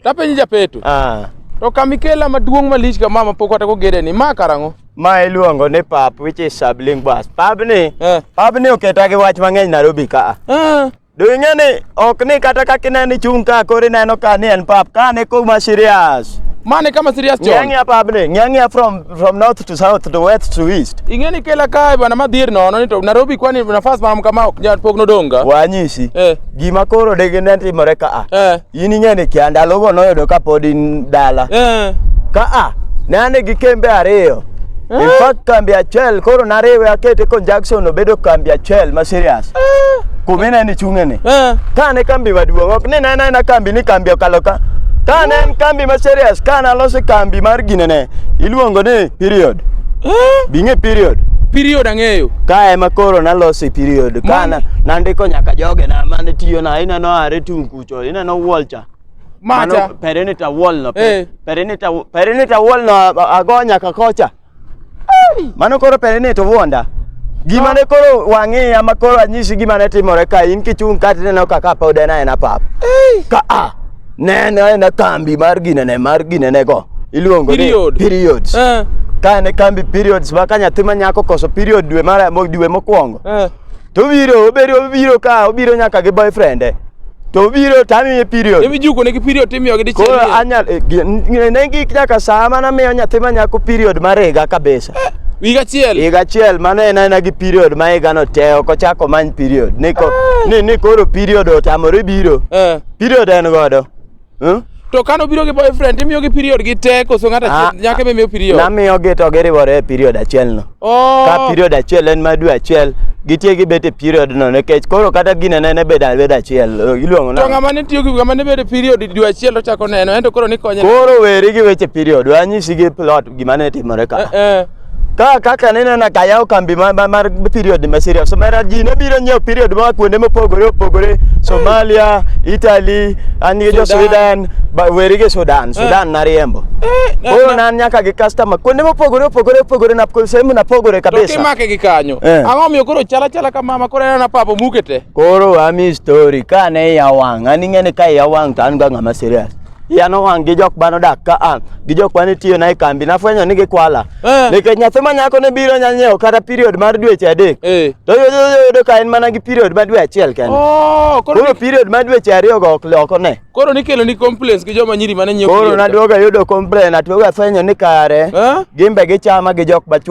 Tapenji japeto. Ah. To kamikela maduong' malich kama ma pok atako gede ni ma karang'o? Ma iluongo ni pap which is Sabling Bus. Pabni, eh. pabni oketa gi wach mang'eny Nairobi ka. Eh. Do ing'e ni ok ni kata kaka ineno chung' ka koro ineno ka ni en pap ka ne kuma serious. Mane kama serious chon? Ng'ang'ia pabni, ng'ang'ia from From north to south to west to east. Ingeni kela kae bwana madhier nono ni to Nairobi kwani nafas mam kama ok nyal pok nodonga. Wanyisi. Eh. Gima koro dege ne timore ka a. Eh. In ingeni kia ndalo go noyudo ka pod in dala. Eh. Ka a. Ne ane gi kembe ariyo. Eh. In fact kambi achiel koro nariwe akete conjunction obedo kambi achiel ma serious. Eh. kumine ni chung'eni Eh. kane kambi maduong' ok ni nena ena kambi ni kambi okalo ka kane en kambi ma serious kane aloso kambi mar ginene iluongo ni period Eh. bing'e period Period ang'eyo. ka ema koro naloso period kana Mano- nandiko nyaka joge na mane tiyo na ineno are tung' kucho ineno wolcha Macha. Mano, perimeter wall no Eh. perimeter perimeter wall no ago nyaka kocha Mano koro pere ni to wuonda. Gima ne koro wang'iya ma koro anyisi gima ne timore ka in kichung' ka tineno kaka pod en aena pap. Ka a nene aena kambi mar ginene mar ginene go. Iluongo ni Period. periods. Eh, Ka ne kambi periods ma ka nyathi ma nyako koso period dwe mar mo- dwe mokwongo. eh. to obiro obiro obiro ka obiro nyaka gi boyfriend e to obiro to amiye period Ebi juko ne gi period timiyo gi dichiel. koro anyal eh, gi- n- ne gik nyaka saa mana miyo nyathi ma nyako period mar higa kabisa Wiga achiel. higa achiel mano en aena gi period ma higano te ok ochako many period ni ko- ni ni koro period otamore biro Eh. period en godo Hmm? To kano biro gi boyfriend imiyo gi period gi te koso ng'ata ah, nyaka be miyo period. Namiyo gi to giriwore e period achiel no. Oh. Ka period achiel en ma dwe achiel gitie gi bete period no nikech koro kata gine ne bed abed achiel iluongo na. To ng'ama ne tiyo gi ng'ama ne bede period dwe achiel to chako neno ento koro ni konye. Koro weri gi weche period wanyisi gi plot gima ne timore ka. Eh, eh. ka kaka ne nena ka yawo kambi ma- ma- mar period ma Syria Somalia ji ne biro nyiewo period ma kuonde mopogore opogore Somalia Italy an gi jo Sudan. Sweden ba- weri gi Sudan Sudan nariembo na- koro na- nan nyaka gi customer kuonde mopogore opogore opogore na sehemu napogore To kabisa kimake gi kanyo. Eh. Ang'o miyo koro chala chala ka mama koro anena papa muke te. koro ami story ka ne ya wang' an ing'e ni ka ya wang' to an ga ng'ama serious iya nowang' gi jok mane odak ka a gi jok mane tiyona e kambi nafwenyo ni gikwala Eh. nikech nyathi ma nyako ne biro nya nyiewo kata period mar dweche adek Eh. to yudo yudo ka en mana gi period ma dwe achiel kende Oh, koro koro ni- period ma dweche ariyogo ok loko ne koro nikelo ni complaints gi joma nyiri mane nyiewo koro period. naduoga yudo complain atuoga fwenyo ni kare Eh? gimbe gichama gi jok machuo